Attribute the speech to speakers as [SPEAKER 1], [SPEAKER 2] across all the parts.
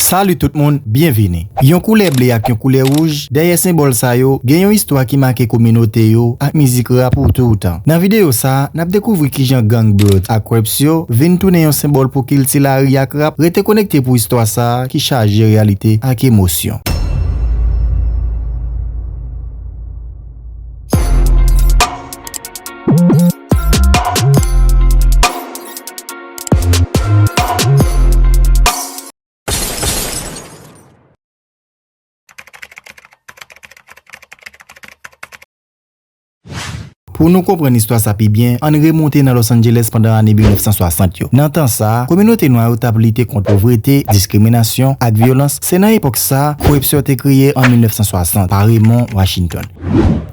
[SPEAKER 1] Salut tout moun, byenvini! Yon koulè ble ak yon koulè wouj, dèyè senbòl sa yo, gen yon istwa ki make kominote yo ak mizik rap pou toutan. Nan videyo sa, n ap dekouvri kijan gang Bloods ak Crips yo vin tounen yon senbòl pou kilti lari ak rap, rete konekte pou istwa sa ki chaje reyalite ak emosyon. Pou nou konprann istwa sa pi byen, ann remonte nan Los Angeles pandan ane 1960 yo. Nan tan sa a, kominote nwa yo t ap lite kont povrete, diskriminasyon, ak vyolans. Se nan epòk sa a, koripsyon te kreye an 1960 pa Raymond Washington.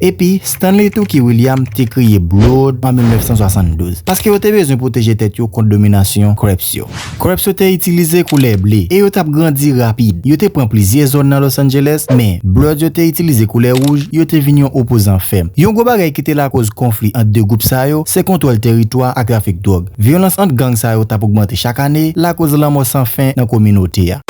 [SPEAKER 1] Epi, Stanley Tookie Williams te kreye Bloo'd an 1972, paske yo te bezwen pwoteje tèt yo kont dominasyon Crips yo. Crips yo te itilize koulè ble, e yo t ap grandi rapid. Yo te pran plizyè zòn nan Los Angeles, men, Bloods yo te itilize koulè wouj, yo te vin yon opozan fèm. Yon gwo bagay ki te lakòz konfli ant 2 gwoup sa yo, se kontwòl tèritwa ak trafik dwòg. Vyolans ant gang sa yo t ap ogmante chak ane, lakòz lanmò san fen nan kominote a.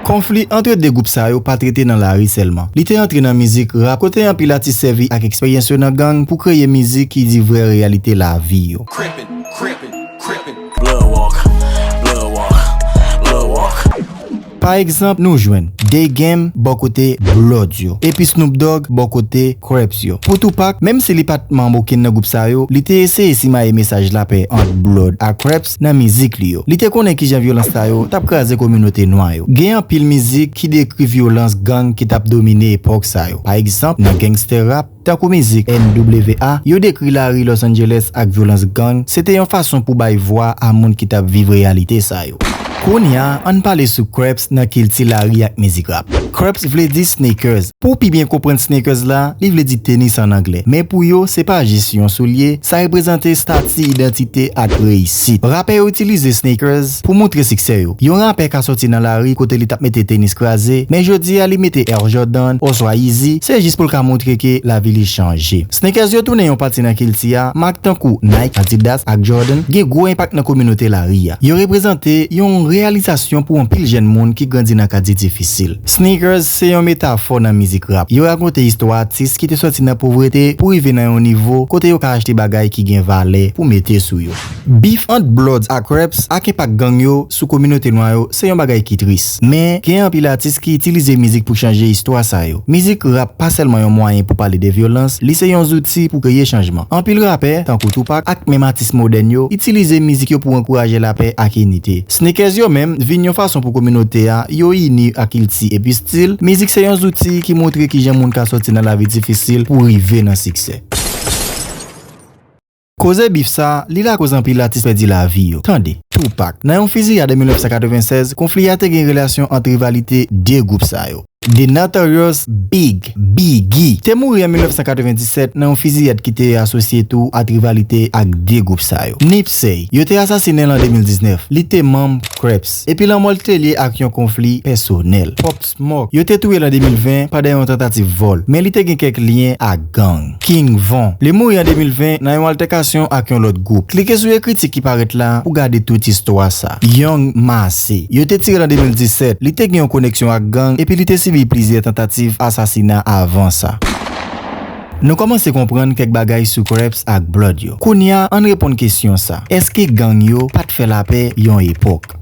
[SPEAKER 1] Konfli antre 2 gwoup sa yo pa t rete nan lari sèlman. Li te antre nan mizik rap kote anpil atis sèvi ak eksperyans yo nan gang pou kreye mizik ki di vrè reyalite lavi yo. Pa egzanp nou jwenn, The Game bò kote Bloods yo, epi Snoop Dogg bò kote Crips yo. Pou Tupac, menm si li pa t manm okenn nan gwoup sa yo, li te eseye simaye mesaj lapè ant Blood ak Crips. nan mizik li yo. Li te konnen kijan vyolans sa yo t ap kraze kominote nwa yo. Gen anpil mizik ki dekri vyolans gang ki t ap domine epòk sa yo. Pa egzanp, nan gangster rap, tankou mizik NWA, yo dekri lari Los Angeles ak vyolans gang, se te yon fason pou bay vwa a moun ki t ap viv reyalite sa yo. Kounya, an n pale sou Kreps nan kilti lari ak mizik rap. Kreps vle di Sneakers. Pou w pi byen konprann sneakers la, li vle di tenis an anglè. Men pou yo, se pa jis yon soulye, sa reprezante stati, idantite ak reyisit. Rapè yo itilize sneakers pou montre siksè yo. Yon rapè ka sòti nan lari kote li t ap mete tenis kraze, men jodi a li mete Air Jordan oswa Yeezy, se jis pou l ka montre ke lavi li chanje. Sneakers yo tounen yon pati nan kilti a, mak tankou Nike, Adidas ak Jordan gen gwo enpak nan kominote lari a. Yo reprezante yon reyalizasyon pou anpil jèn moun ki grandi nan katye difisil. Sneakers se yon metafò nan mizik rap. Yo rakonte istwa atis ki te sòti nan povrete pou rive nan yon nivo kote yo ka achte bagay ki gen valè pou mete sou yo. Bif ant Bloods ak Crips ak enpak gang yo sou kominote nwa yo se yon bagay ki tris. Men, gen anpil atis ki itilize mizik pou chanje istwa sa yo. Mizik rap pa sèlman yon mwayen pou pale de vyolans, li se yon zouti pou kreye chanjman. Anpil rapè, tankou Tupac ak menm atis modèn yo, itilize mizik yo pou ankouraje lapè ak inite. Sneakers yo menm vin yon fason pou kominote a yo ini a kilti epi stil, mizik se yon zouti ki montre kijan moun ka sòti nan lavi difisil pou rive nan siksè. Koze bif sa, li lakoz anpil atis pèdi lavi yo. Tande. Tupac. Nan yon fiziyad an 1996, konfli a te gen relasyon ant rivalite 2 gwoup sa yo. The Notorious Big, Biggy, te mouri an 1997 nan yon fiziyad ki te asosye tou ak rivalite ak 2 gwoup sa yo. Nipsey, yo te asasinen l an 2019, li te manm Crips, epi lanmò l te lye ak yon konfli pèsonèl. Pop Smoke, yo te touye l an 2020 pandan yon tantativ vòl, men li te gen kèk lyen ak. gang. King Von, li mouri an 2020 nan yon altèkasyon ak yon lòt gwoup. Klike sou ekriti ki parèt la pou gade tout istwa sa. Young Massey, yo te tire l an 2017, li te gen yon koneksyon ak gang epi li te sibi plizyè tantativ asasina avan sa. Nou kòmanse konprann kèk bagay sou Krèps ak Blòd yo. Kounya an n reponn kesyon sa, èske gang yo pa t fè lapè yon epòk?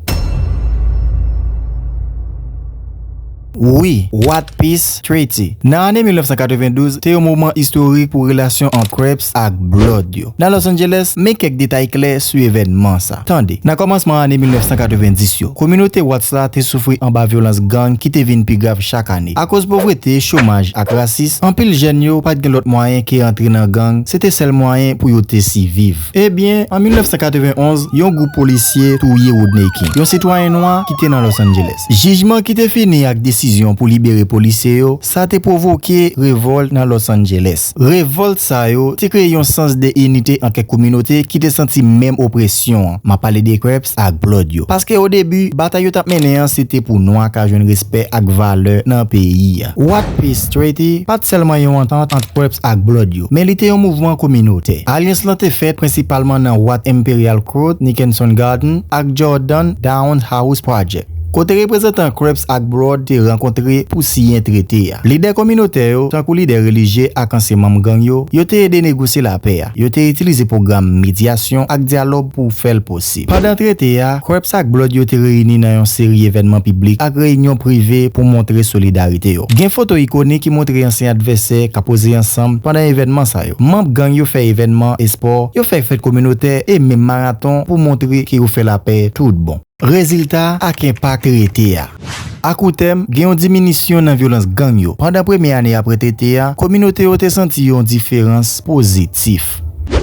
[SPEAKER 1] Wi, What Peace Treaty nan ane 1992 te yon moman istorik pou relasyon ant Crips ak Blood yo nan Los Angeles. Men kèk detay kle sou evènman sa, Tande. Nan kòmansman ane 1990 yo, kominote Watts la te soufri anba vyolans gang ki te vin pi grav chak ane. Akoz povrete, chomaj, ak rasis, anpil jèn yo pa t gen lòt mwayen ke antre nan gang, se te sèl mwayen pou yo te siviv. Ebyen, an 1991, yon gwoup polisye touye Rodney King, yon sitwayen nwa ki te nan Los Angeles. Jijman ki te fini ak desizyon pou libere polisye yo sa te pwovoke revòlt nan Los Angeles. Revòlt sa yo te kreye yon sans de inite an kèk kominote ki te santi menm opresyon an, m ap pale de Crips ak Blood yo, paske o debi batay yo t ap mennen an se te pou nwa ka jwenn respè ak valè nan peyi. What Peace Treaty pa t sèlman yon antant ant Purps ak Blood yo, men li te yon mouvman kominotè. Alyans lan te fèt prensipalman nan Wat Imperial Court, Nickenson Garden, ak Jordan Downs House Project, kote reprezantan Crups ak Blood te rankontre pou siyen trete a. Lidè kominotè yo, tankou lidè relijye ak ansyen manm gang yo, yo te ede negosye lapè a, yo te itilize pwogram medyasyon ak dyalòg pou fè l posib. Sib. Pandan trete a, Krieps ak Blood yo te reyini nan yon seri evènman piblik ak reyinyon prive pou montre solidarite yo. Gen foto ikonik ki montre ansyen advèsè k ap poze ansanm pandan evènman sa yo. Manb gang yo fè evènman espò, yo fè fèt kominotè e menm maraton pou montre ke yo fè lapè tout bon. Rezilta ak enpak trete a. A kou tèm, gen yon diminisyon nan vyolans gang yo. Pandan premye ane apre tete a, kominote yo te santi yon diferans pozitif.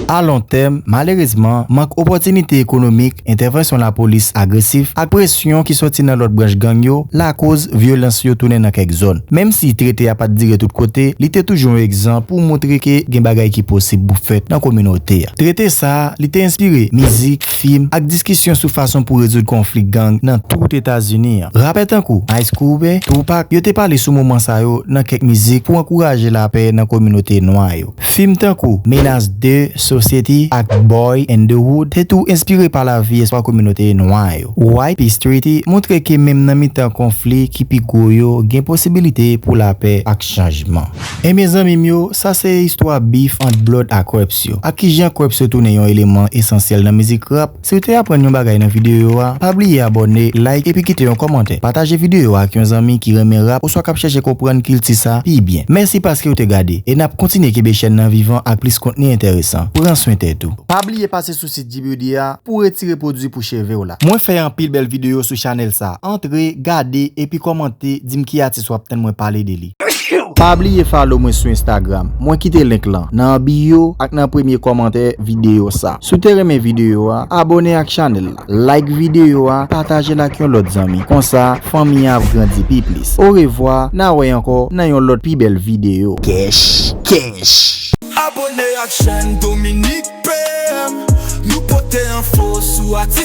[SPEAKER 1] A lon tèm, malerezman, mank opòtinite ekonomik, entèvansyon lapolis agresif, ak presyon ki soti nan lòt branch gang yo lakoz vyolans yo tounen nan kèk zòn. Menm si trete a pa t dire tout kote, li te toujou yon egzanp pou moutre ke gen bagay ki posib pou fèt nan kominote a. Trete sa a, li te enspire mizik, fim, ak diskisyon sou fason pou rezoud konfli gang nan tout Etazini. Rapè tankou Ice Cube, Tupac, yo te pale sou moman sa yo nan kèk mizik pou ankouraje lapè nan kominote nwa yo. Fim tankou Menace ii, Society, ak Boy and the Hood te tou enspire pa lavi espwa kominote nwa yo. White Peace Treaty montre ke menm nan mitan konfli ki pi gwo yo, gen posibilite pou lapè ak chanjman. Enben zanmi m yo, sa se istwa bif ant Blood ak Krèps yo, ak kijan Krèps yo tounen yon eleman esansyèl nan mizik rap. Si w te aprann yon bagay nan videyo a, pa bliye abòne, like epi kite yon kòmantè. Pataje videyo a ak yon zanmi ki renmen rap oswa k ap chèche konprann kilti sa pi byen. Mèsi paske w te gade, e n ap kontinye kenbe chèn nan vivan ak plis kontni enteresan. Pran swen tèt ou. Pa bliye pase sou sit G-Beauty a pou w retire pwodwi pou cheve w la. Mwen fè anpil bèl videyo sou chanèl sa, antre, gade, epi kòmante, di m ki atis w ap tann mwen pale de li. Pa bliye follow mwen sou Instagram, mwen kite link lan nan bio ak nan premye kòmantè videyo sa. Si w te renmen videyo a, abone ak chanèl la, like videyo a, pataje l ak yon lòt zanmi, konsa fanmi an ap grandi pi plis. Orevwa, na wè ankò nan yon lòt pi bèl videyo. Kèch kèch!
[SPEAKER 2] Abone ak chèn Dominique PM Nou pote enfo sou atis.